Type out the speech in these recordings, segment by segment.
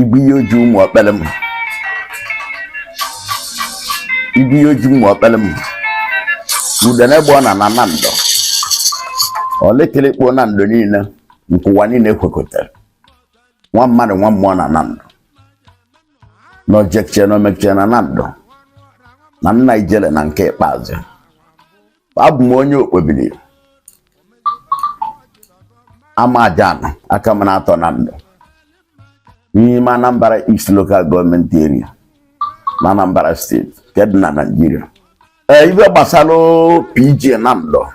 ibu ihe oji ụmụ ọkpere m ibu ihe oji ụmụ ọkpere m Udene gba ọna na Nando Olikilikpo Nando niile nke ụwa niile kwekọtara nwa mmadụ nwa mmụọ na Nando na ojekche na omekche na Nando na nna ijele na nke ikpeazụ abụ m onye Okpobiri Amajana Akamanato Nando n'ime Anambra East Local Gọọmenti Area na Anambra steeti nke dị na Naịjirịa ee ibe gbasara PG Nando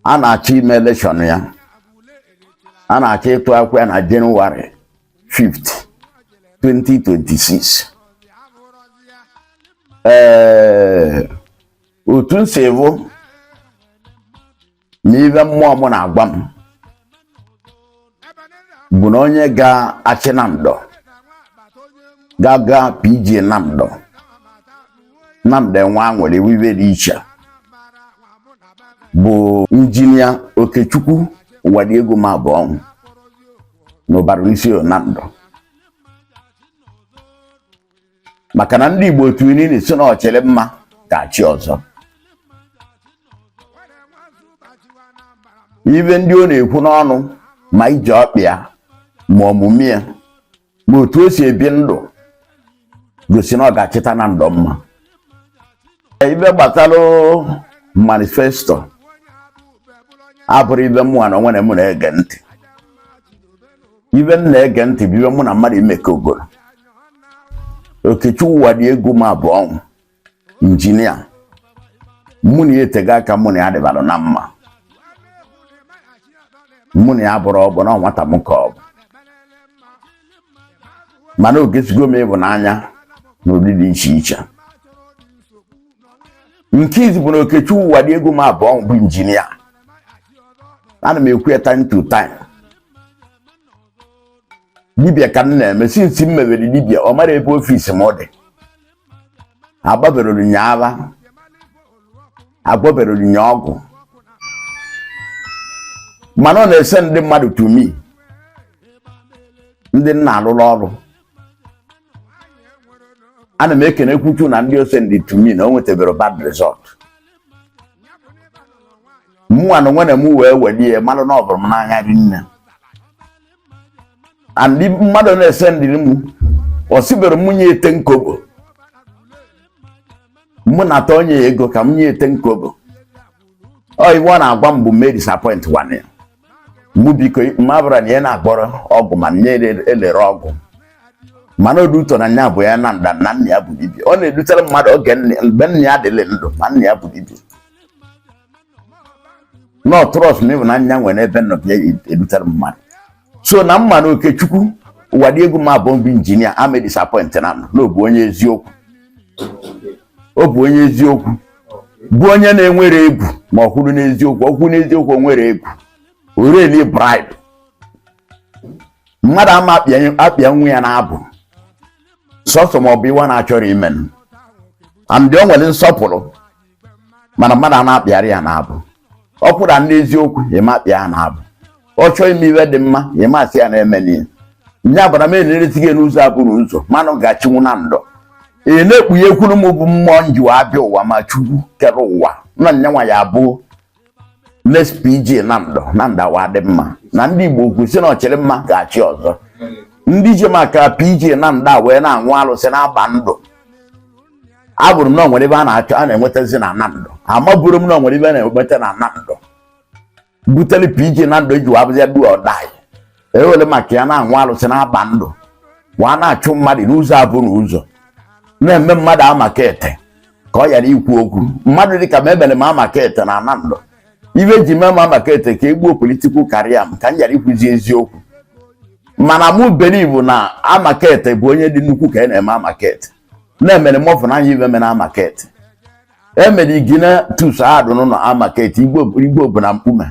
a na-achọ ime elekshọn ya a na-achọ ịtụ akwụkwọ ya na Jenụwarị 5 2026 ee otu m si bụ na ibe mmụọ m na-agwa m bụ na onye ga-achị Nando ga-aga PG Nando Nando ewee nwere ibe dị iche bụ injinia Okechukwu Ụwadịegwu Mabụọnwụ n'Ubarunisioye Nando maka na ndị Igbo tụrụ inu sị na ọchịrị mma ga-achị ọzọ ibe ndị ọ na-ekwu n'ọnụ ma ije ọkpa ya ma omume ya ma otu o si ebi ndụ gosi na ọ ga-achịta Nando mma ibe gbasara manifesto abụrọ ibe mụnwa na onwe na mụ na-ege ntị ibe m na-ege ntị bụ ibe mụ na mmadụ mekọgoro Okechukwu Ụwadịegwu Mabụọnwụ injinia mụ na ya etega aka mụ na ya dịbara na mma mụ na ya abụrọ ọgbọ na nwata m ka ọ bụ mana o gosigo m ịhụnanya na ụdị dị iche iche nke izi bụ na Okechukwu Ụwadịegwu Mabụọnwụ injinia ana m ekwu ya time to time dibia ka m na-eme since m mewere dibia ọ mara ebe ọfisi m dị agbaberọrọ m ya aha agbaberọrọ m ya ọgwụ mana ọ na-esend ndị mmadụ to me ndị m na-alụrụ ọrụ ana m ekene Chukwu na ndị o sendị to me na o nwetaberọ bad result mụnwa na onwe na m wee welie malụ na ọ bụrụ m n'anya rinne and mmadụ na-ese ndịrị mụ o sibero mụ nye ten kobo mụ na-ata onye ya ego ka m nye ten kobo ọ ihe ọ na-agwa m bụ m edisappointkwana ya mụ biko m abụrọ onye na-agbọrọ ọgwụ ma nye elere ọgwụ mana odu ụtọ na nya bụ ya na nda na nna ya bụ dibia ọ na-edutere mmadụ oge mgbe nna ya dịrị ndụ ma nna ya bụ dibia na ọtụrọs na ịhụnanya nwere n'ebe nọ bịa edutere mmadụ so na m ma na Okechukwu Uwadiegwu m abụọ bụ injinia ame disapọint na m na ọ bụ onye eziokwu ọ bụ onye eziokwu bụ onye na-enwerọ egwu ma ọ kwụrụ n'eziokwu ọ kwụrụ n'eziokwu o nwerọ egwu oreli bribe mmadụ ama akpịa- akpịanwu ya n'abụ sọsọ ma ọ bụ ihe wa na-achọrọ ime and o nwere nsọpụrụ mana mmadụ a na-akpịarọ ya n'abụ ọ kwụrụ n'eziokwu ị ma akpịa ya n'abụ ọ chọọ ime ihe dị mma ị ma asị ya na-eme n'ihe nye abara m eneresi gị n'ụzọ abụrọ ụzọ ma na ọ ga-achịnwu Nando ị na-ekpughe ekwuru m bụ mmụọ njiwa abịa ụwa ma chukwu kere ụwa nna nne nwa ya abụọ next PG Nando Nando a wee dị mma na ndị Igbo kwu sị na ọchịrị mma ga-achị ọzọ ndị ji maka PG Nando wee na-anwụ alụsị na-agba ndụ abụrụ m na o nwere ife a na-achọ a na-enwetazi na Nando amaburọ m na o nwere ife a na-enweta na Nando butere PG Nando ji wee bụzi do or die ewere maka ya na-anwụ alụsị na-agba ndụ wa na-achụ mmadụ n'ụzọ abụ na ụzọ na-eme mmadụ amakete ka ọ ghara ikwu okwu mmadụ dịka mụa emere m amakete na Nando ife e ji mee m amakete ka egbuo political career m ka m ghara ikwuzi eziokwu mana mụ believe na amakete bụ onye dị nnukwu ka a na-eme amakete na-emere mọfụ na anya ibe mere amakete emere Ignatius adụ n'ụlọ amakete igbo bụ na mkpume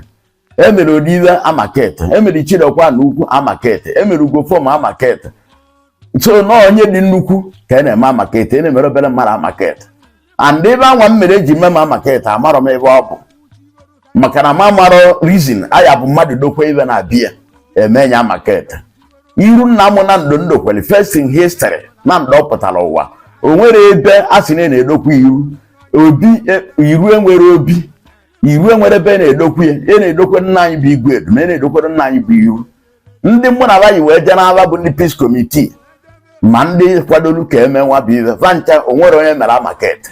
emere Oriwe Amakete emere Ichidekwa na Ukwu Amakete emere Ugwofom Amakete so na onye dị nnukwu ka a na-eme Amakete a na-emerọ obere mmadụ Amakete and ife anwa m mere eji mee m Amakete amarọ m ife ọ bụ maka na m amarọ reason ọ ya-abụ mmadụ dokwe ife na be ya e mee ya Amakete iru nna m Nando ndokweli first in history Nando pụtara ụwa o nwerọ ebe a sị na na-edokwa iru obi iru enwerọ obi iru enwerọ ebe a na-edokwe ya e na-edokwe nna anyị bụ igwe edu ma e na-edokwere nna anyị bụ iru ndị mụ na abaghị wee jee n'aba bụ ndị peace committee ma ndị kwadolu ka eme nwa bụ ife va ncha o nwerọ onye mere amakete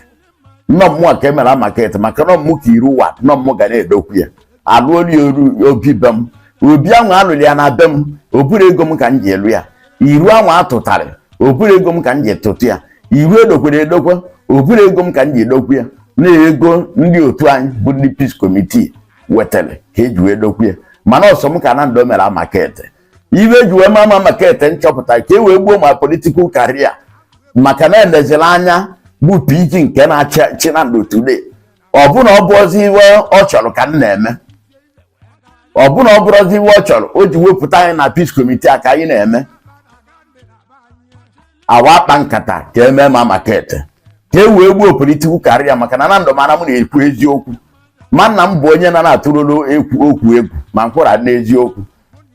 nnọọ mụ ka emere amakete maka na ọ mụ ka iru wa na ọ mụ ga na-edokwe ya alụolu ya obi be m obi ahụ alụrụ ya na be m o buru ego m ka m ji alụ ya iru anwa atụtarị obere ego m ka m ji tụtụ ya iru edokwere edokwa obere ego m ka m ji edokwu ya na ego ndị otu anyị bụ ndị peace committee wetara ka eji wee dokwu ya mana ọ sọ m ka nando mere amakete ife eji wee mee m amakete nchọpụta ka e wee gbuo my political career maka na elezilanya bụ pg nke na-achị nando today ọ bụ na ọ bụrọzi ife ọ chọrọ ka m na-eme ọ bụ na ọ bụrọzi ife ọ chọrọ o ji wepụta anyị na peace committee a ka anyị na-eme awa akpa nkata ka emee m amakete ka e wee gbuo political career maka na nando mara m na-ekwu eziokwu ma na m bụ onye na na-atụrụrụ ekwu okwu egwu ma mkpụrụ adị n'eziokwu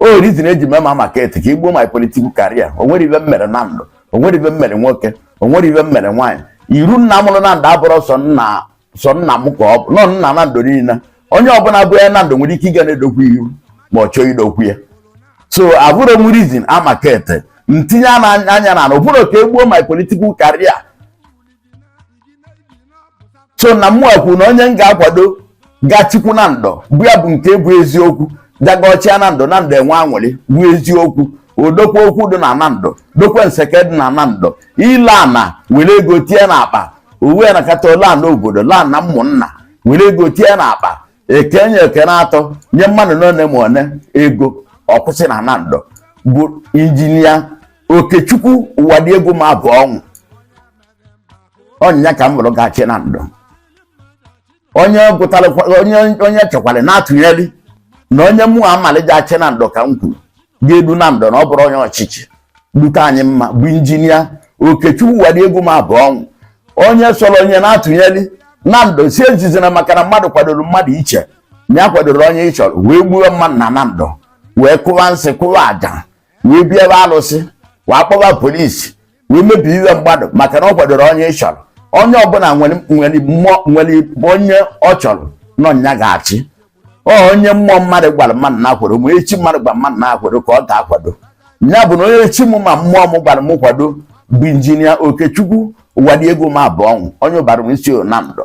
ọ reason eji mee m amakete ka egbuo my political career o nwere ife m mere nando o nwere ife m mere nwoke o nwere ife m mere nwaanyị iru nna mụrụ nando abụrọ sọ nna sọ nna m ka ọ bụ na ọ nna nando niile onye ọbụla bụ nwa nando nwere ike ịga na-edokwu ihu ma ọ chọọ idokwu ya so abụrụ m reason amakete ntinye anya na na ụbụrụ ka egbuo my political career so na mụ kwuru na onye m ga-akwado ga-achịkwu nando bụ ya bụ nke bụ eziokwu ga-achị nando nando enwe anwụrị bụ eziokwu odokwa okwu dị na nando dokwa nseke dị na nando ile ana were ego tie na akpa uwe na kata ole ana obodo laa na ụmụnna were ego tie na akpa ekenye ekene atọ nye mmadụ n'one ma one ego ọ kwụsị na nando bụ injinia okechukwu ụwadịegwu mabụọnwụ ọ nya ka m bụrụ ga-achị nando onye gụtara onye onye chọkwara na-atụnyeli na onye mụ amalị ga-achị nando ka m kwuru ga-edu nando na ọ bụrụ onye ọchịchị dute anyị mma bụ injinia okechukwu ụwadịegwu mabụọnwụ onye sọrọ onye na-atụnyeli nando sị ejizina maka na mmadụ kwadoro mmadụ iche na ya akwadorọ onye ị chọrọ wee gbuo mmadụ na nando wee kụwa nsị kụwa aja wee bịaba alụsị wee kpọba police wee mebie ife mmadụ maka na ọ kwadorọ onye ị chọrọ onye ọbụla nwere nwere mmụọ nwere onye ọ chọrọ na ọ ya ga-achị ọ onye mmụọ mmadụ gwara mmadụ na-akwado ma chi mmadụ gwara mmadụ na-akwado ka ọ ga-akwado ya bụ na onye chi m ma mmụọ m gwara m kwado bụ injinia okechukwu ụwadịegwu mabụọnwụ onye ubaru isi nando